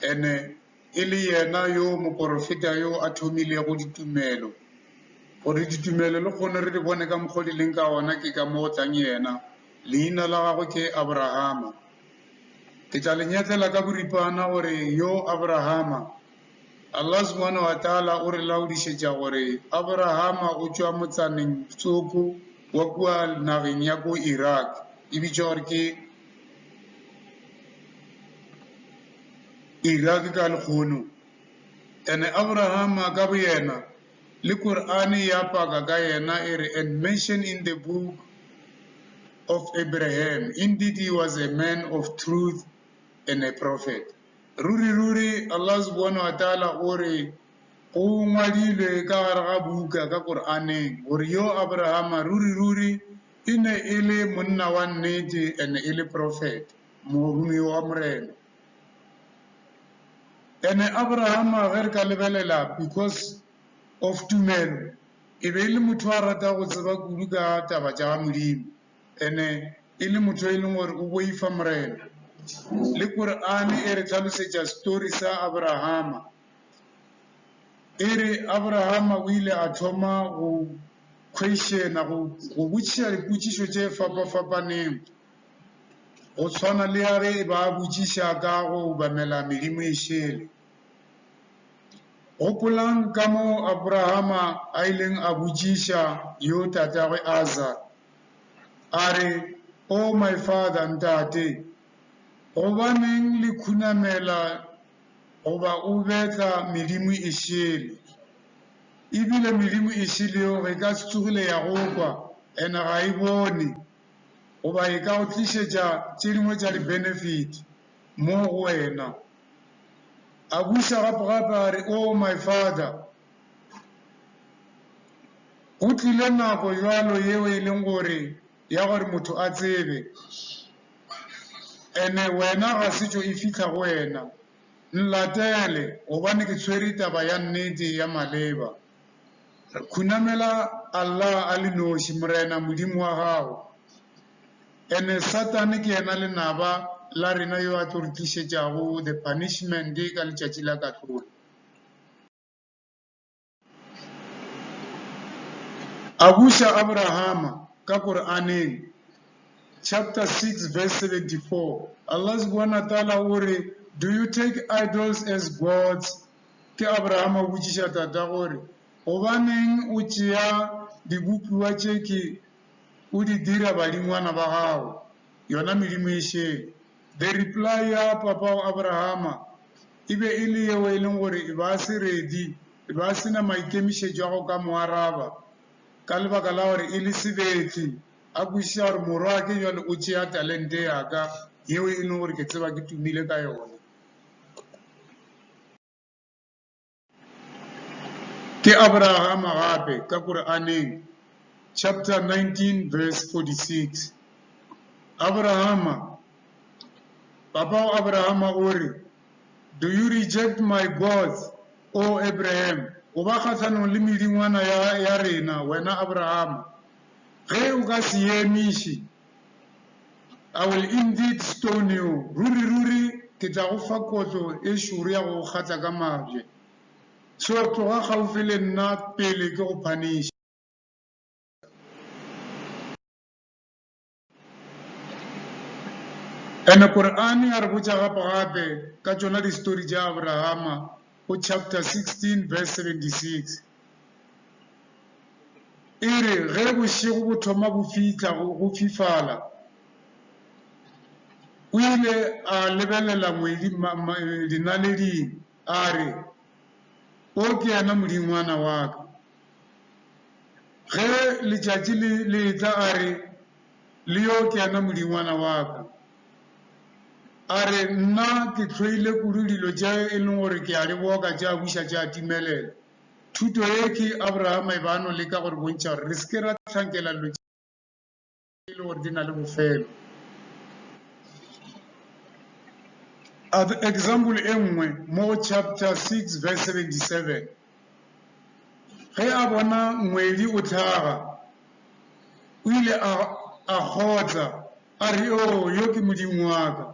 E ne e le yena yo moporofeta yo a thomilego ditumelo. Gore ditumelo le kgone re di bone ka mokgwa di leng ka ona ke ka mo go tlang yena. Leina la gagwe ke Abrahama. Ke tla le nyetlela ka boripana gore yo Abrahama. Allah subhanahu wa ta'ala o re laodišetša gore Abrahama o tšwa motsaneng tsoko wa kua nageng ya ko Iraq e bitšwa gore ke Iraki ka lekgono. Ene Abrahama ka boyena, le Korane ya paka ka yena e re, And mention in the book of Abraham, indeed he was a man of truth and a prophet. Ruri, ruri, Allah subhanahu wa ta'ala o re, go ngwadilwe ka gare ga buka ka Koraneng, gore yo Abrahama, ruri, ruri, E ne e le monna wa nnete and e le profeta, moromeo wa Morena. And Abrahama ge re ka lebelela because of tumelo e be e le motho a rata go tseba kudu ka taba tša Modimo and e le motho e leng gore o boifa Morena. Le Quran e re tlhalosetša story sa Abrahama, e re Abrahama o ile a thoma go khweišena go botšiša dipotšišo tše fapafapaneng, go swana le ya ge e ba a botšiša ka go obamela medimo e šele. Gopolang ka moo Aborahama a ileng a botšiša yo tatagwe Azar, a re, O oh, my father, ntate, gobaneng le khunamela goba o betla medimo e šele? E bile medimo e šeleoge e ka se tsogile ya go kwa, and ga e bone goba e ka go tlišetša tše dingwe tša di-benefit mo go wena. A buša gape-gape a re, Oh, my Father, go tlile nako bjalo yeo e leng gore ya gore motho a tsebe, and wena ga setšo e fihla go wena. Nlatele, gobane ke tshwere taba ya nnete ya maleba. Re khunamela Allah a le noši, Morena, Modimo wa gago. Ene Satane ke yena lenaba la rena yo a tlo re tlišetšago the punishment ka Letšatši la Kahlolo. A buša Abrahama ka Koraneng chapter 6 verse 74. Allah subhanahu wa ta'ala o re, Do you take idols as gods? Ke Abrahama o botšiša tata gore, gobaneng o tšea dibopiwa tše ke o di dira badingwana ba gago, yona medimo e šele. The reply ya papao Abrahama e be e le yeo e leng gore e ba se ready, e ba se na maikemišetšo a go ka mo araba, ka lebaka la gore e le sebetli, a kwešiša gore, Morwake, bjale o tšea talente yaka, yeo e lego gore ke tseba ke tumile ka yona. Ke Aborahama gape ka Koraneng chapter 19 verse 46. Aborahama, Papa wa Aborahama o re, Do you reject my gods, O Abraham? O ba kgahlanong le medingwana ya, ya rena, wena Aborahama. Ge o ka se ye emiše, I will indeed stone you, ruri-ruri ke tla go fa kotlo e šoro ya go go kgatla ka mabje. So tloga kgaufhi le nna pele ke go phaniša. Ene Kor'ane ya re botša gape-gape ka tšona distori tša Abrahama go chapter 16 verse 76. E re ge bošego bo thoma go fihla go fifala, o ile a lebelela ngwedi dinaleding a re, O ke yena modingwana wa ka. Ge letšatši le etla a re, le yo ke yena modingwana wa ka. A re, Nna ke hloile kudu dilo tše e lego gore ke a di boka tša buša tša timelela. Thuto ye ke Abrahama e be a no leka go re bontšha gore re se ke ra hlankela dilo tše e lego gore di na le bofelo. Example e nngwe mo go chapter 6 verse 77. Ge a bona ngwedi o hlaga, o ile a kgotla, a re, Oo, yo ke Modimo wa ka!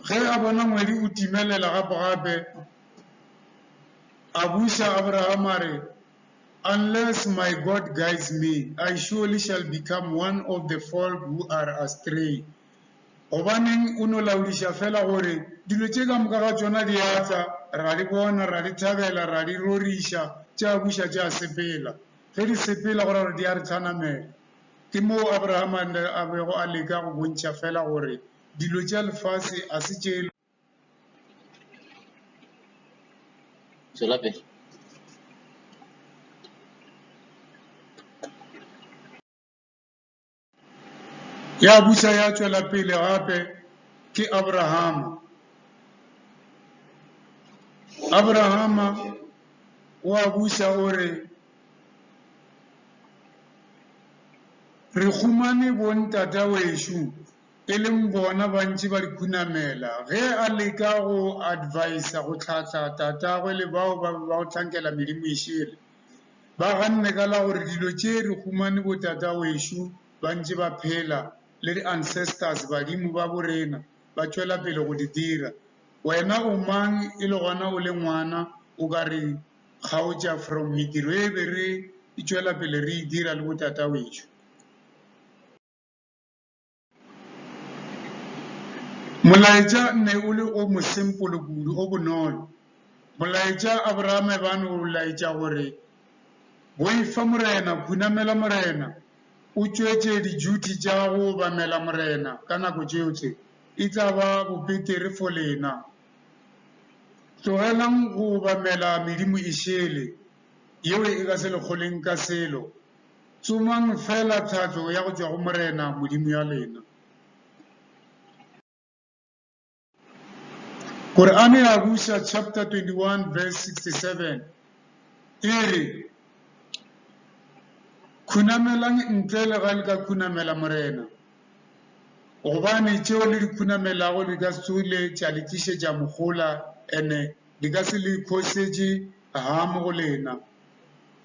Ge a bona ngwedi o timelela gape-gape, a buša Abrahama a re, Unless my God guides me, I surely shall become one of the folk who are astray. Gobaneng o no laodiša fela gore dilo tše ka moka ga tšona di a tla, ra di bona, ra di thabela, ra di roriša, tše a buša tše a sepela. Ge di sepela go ra gore di a re hlanamela. Ke moo Abraham a bego a leka go bontšha fela gore dilo tša lefase a se tše Tšwela pele. Ya busa ya tšwela pele gape ke Abrahama. Abrahama o a busa o re, Re humane bontata wešo e leng bona ba ntše ba di khunamela ge a leka go advisa go hlahla tatagwe le bao ba be ba go hlankela medimo e šele. Ba ganne ka la gore dilo tše re humane botatawešo ba ntše ba phela le di ancestors, badimo, ba bo rena ba tšwela pele go di dira. Wena o mang e le gona o le ngwana o ka re kgaotša from mediro e be re e tšwela pele re e dira le botatawešo? Molaetša ne o le o mosempolo kudu, o bonolo. Molaetša Abrahama e bane o laetša gore, Boifa Morena, khunamela Morena, o tšwetše dijuthi tša go obamela Morena ka nako tšeotše, e tla ba bobetere fo lena. Tlogelang go obamela medimo e šele, yeo e ka se le kgoleng ka selo. Tsomang feela thatšo ya go tšwa go Morena Modimo ya lena. Korane ya Buša chapter 21 verse 67 e re, Khunamelang ntle le ga le ka khunamela Morena, gobane tšeo le di khunamelago di ka se tsohile tša le tlišetša mohola, ene di ka se le khosetše hamo go lena.